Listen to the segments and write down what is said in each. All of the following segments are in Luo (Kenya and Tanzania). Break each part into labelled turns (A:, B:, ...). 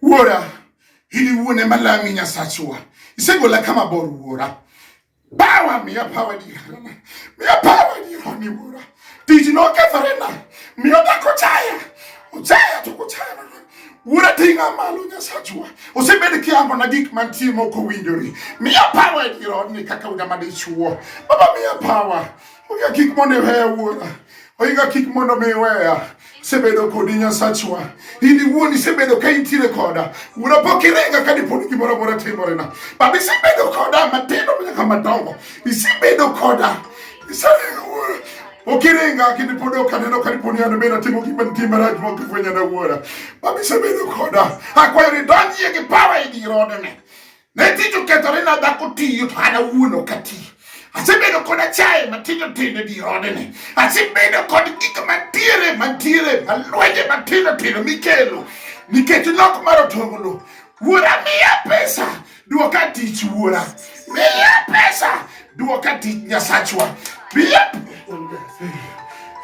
A: Wuora, ili uone malami Nyasachwa, isegola kama bor wuora. Bawa miya pawa digarana, miya pawa dironi wuora. Tich nokethorena, miyo dak ochaya, ochaya to kochaya mana. Wuora ting'a malo Nyasachwa, osebedo kiambona gik mantie mok owinjore. Miya pawa dironi kaka uda madichuo. Baba miya pawa. Oiga kik mondo iweya wuora, oiga kik mondo mi iweya sebedo kodi Nyasachwa, in iwuon isebedo ka intiere koda wuora, pok irenga ka diponi gimoro amora timorena, baba isebedo koda matindo nyaka madongo, isebedo koda iserenga wuora ok irenga kendo pod ok aneno ka diponi an bende atimo gima nitie marach ma ok ifwenyana wuora, baba isebedo koda, akwayo ni donjie gi pawa e dir odene Ne tich okethore na dhako tiyo to an awuon ok ati. Asebedo kod achaye matindo tindo di odene. Asebedo kod gik mantiere mantiere malwenje matindo tindo mikelo nikech nok mar otonglo. Wuora miya pesa duoka tich wuora. Miya pesa duoka tich Nyasachwa. Miya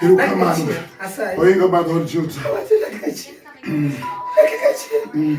A: Erokamano. Oingo badho Juta. Dakika achiel. Dakika achiel.